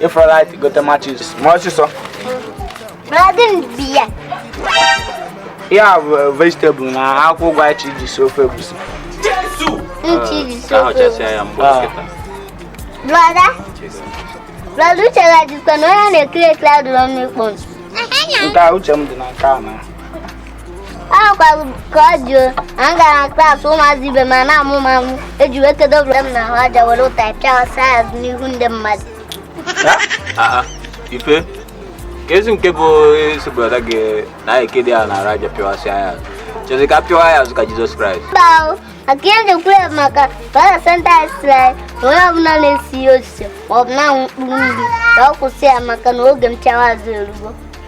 Ị fụrọ light gote matches mee ọsịsọ. Brọda m bịa. Ya bụ vegetable na akwụkwọ ụgụ anyị ji si ofe egusi. Nchi ji si ofe egusi. Brọda. Brọda uche gị dịkwa na onye na-ekiri ekiri adịrọ n'ikpọ. Nke a uche m dị na nke a na. ahụkwara ka ọ dị anyị gara na klaasị ụmụazị ibe m a na-amụ m amụ eji wee kedo brọda m na ahụ aja were ụtarị pịawasịa ya n'ihu ndị mmadụ ife ka ezi nke bụ isi brọda gị na anyị ekedo ya n'arụ aja pịwasịa ya chezi ka pịwa ya azụ ka jizọs kraịst mba maka ihe njikwa ya maka ka ọ na-asenta israel na onye ọbụla na-esi ya osisi maọbụ na-anwụ mkpụrụ nri ka ọ kwụsị ya maka na oge m pịawa azụ erugo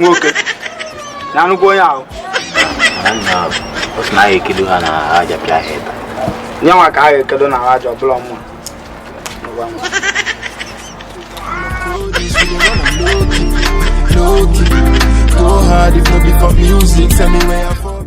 nwoke na nnukwu onye ahụ na ya ekedo ha na aja pịa ha ebe ya nwa ka ha ekedo na aja ọbụla mma Go hard if not be for music, tell me where I fall.